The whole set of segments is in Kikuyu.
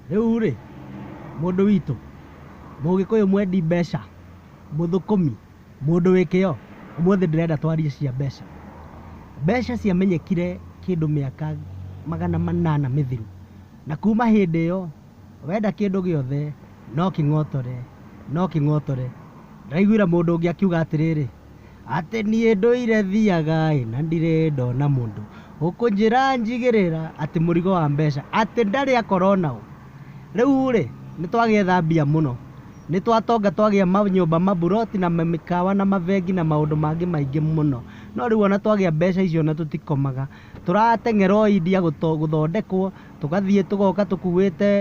Rĩu rĩ, mũndũ witũ, mũgĩkũyũ mwendi mbeca, mũthũkũmi, mũndũ wĩ kĩo, ũmũthĩ ndĩrenda twarie cia mbeca. Mbeca ciamenyekire kĩndũ mĩaka magana manana mĩthiru, na kuma hĩndĩ ĩyo, wenda kĩndũ gĩothe no kĩng'otore, no kĩng'otore. Ndĩraiguire mũndũ ũngĩ akiuga atĩrĩrĩ. atĩ niĩ ndũire thiaga ĩ na ndirĩ ndona mũndũ ũkũnjĩra njigĩrĩra atĩ mũrigo wa mbeca atĩ ndarĩ akora onao rĩu rĩ nĩ twagĩetha mbia mũno nĩ twatonga twagĩa manyũmba maburoti na mĩkawa na mabengi na maũndũ mangĩ maingĩ mũno no rĩu ona twagĩa mbeca icio ona tũtikomaga tũrateng'era o India gũthondekwo tũgathiĩ tũgoka tũkuĩte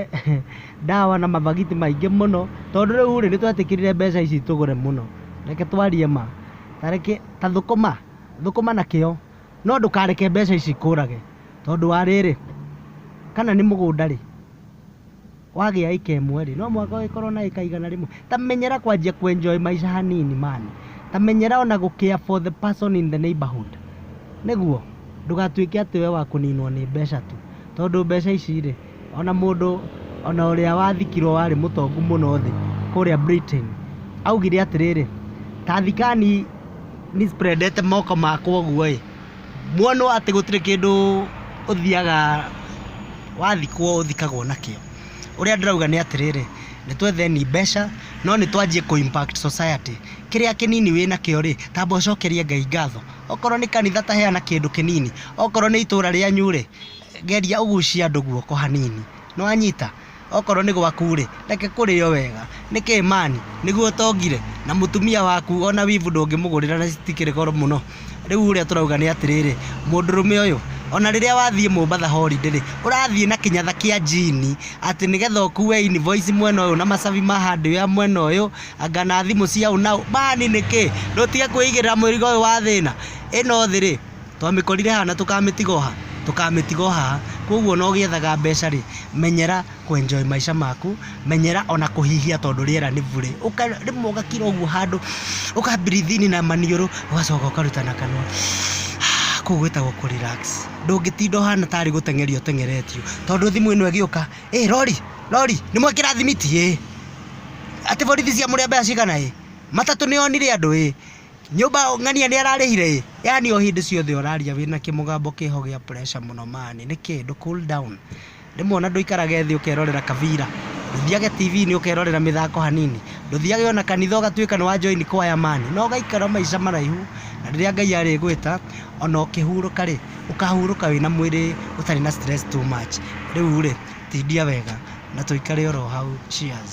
ndawa na mabagiti maingĩ mũno tondũ rĩu rĩ nĩtwetĩkĩrire mbeca ici tũgũre mũno reke twarie ma tareke ta thũkũma thũkũma na kĩo no ndũkareke mbeca ici ikũrage tondũ wa rĩrĩ kana nĩ mũgũnda rĩ Wagĩa ĩka ĩmwe rĩ, no mũhaka ũgĩkorwo na ĩka igana rĩmwe. Ta menyera kwanjia kũ enjoy maica hanini man. Ta menyera ona gũ care for the person in the neighborhood. Nĩguo? Ndũgatuĩke atĩ we wa kũninwo nĩ mbeca tu. Tondũ mbeca ici rĩ, ona mũndũ ona ũrĩa wathikirwo warĩ mũtongu mũno thĩ kũrĩa Britain, augire atĩrĩrĩ, ta thikani nĩ spread ete moko makwa ũguo ĩ, Muonwo atĩ gũtirĩ kĩndũ ũthiaga wathikwo ũthikagwo nakĩo. Ũrĩa ndĩrauga nĩ atĩrĩrĩ, nĩ twetheni mbeca no nĩ twanjie kũ impact society. Kĩrĩa kĩnini wĩ nakĩo rĩ, tamba ũcokerie Ngai ngatho. Okorwo nĩ kanitha ta heana kĩndũ kĩnini, okorwo nĩ itũũra rĩanyu rĩ, geria ũgucie andũ guoko hanini. Nĩ wanyita? Okorwo nĩ gwaku-rĩ, reke kũrĩo wega. Nĩ kĩĩ man? Nĩguo ũtongire? Na mũtumia waku o na wivu ndũngĩmũgũrĩra na citikĩrĩ goro mũno? Rĩu ũrĩa tũrauga nĩ atĩrĩrĩ, mũndũrũme ũyũ, o na rĩrĩa wathiĩ Mombatha holiday-rĩ, ũrathiĩ na kĩnyatha kĩa njini, atĩ nĩgetha ũkue invoice mwena ũyũ na macabi ma hardware mwena ũyũ, anga na thimũ cia ũ na ũ. Man nĩ kĩĩ? Na ũtige kwĩigĩrĩra mũrigo ũyũ wa thĩna. Ĩno thĩ-rĩ. Twamĩkorire haha na tũkamĩtiga o haha, tũkamĩtiga o haha. Kũguo ona ũgĩethaga mbeca rĩ, menyera kũ enjoy maica maku, menyera ona kũhihia tondũ rĩera nĩ burĩ. Rĩmwe ũgakira ũguo handũ, ũka breathe in na maniũrũ, ũgacoka ũkaruta na kanua. Kũu gwĩtagwo kũ relax. Ndũngĩtinda ũhana tarĩ gũteng'erio ũteng'eretio. Tondũ thimũ ĩno ĩgĩũka, ĩĩ rori, rori, nĩ mwekĩra thimiti ĩĩ? Atĩ borithi ciamũrĩa mbeca cigana ĩĩ? Matatũ nĩ yonire andũ ĩĩ? Nyũmba ng'ania nĩ ararĩhire ĩ? Yaani o hĩndĩ ciothe ũraria wĩna kĩmũgambo kĩho gĩa pressure mũno mani. Nĩkĩ? Ndũ cool down. Rĩmwe ona ndũikaraga thĩ ũkerorera kabira. Ndũthiage TV-inĩ ũkerorera mĩthako hanini. Ndũthiage ona kanitha ũgatuĩka nĩ wa join kwaya mani. Na ũgaikara maica maraihu. Na rĩrĩa Ngai arĩgwĩta, ona ũkĩhurũka rĩ, ũkahurũka wĩna mwĩrĩ ũtarĩ na stress too much. Rĩu rĩ, tindia wega na tũikare oro hau. Cheers.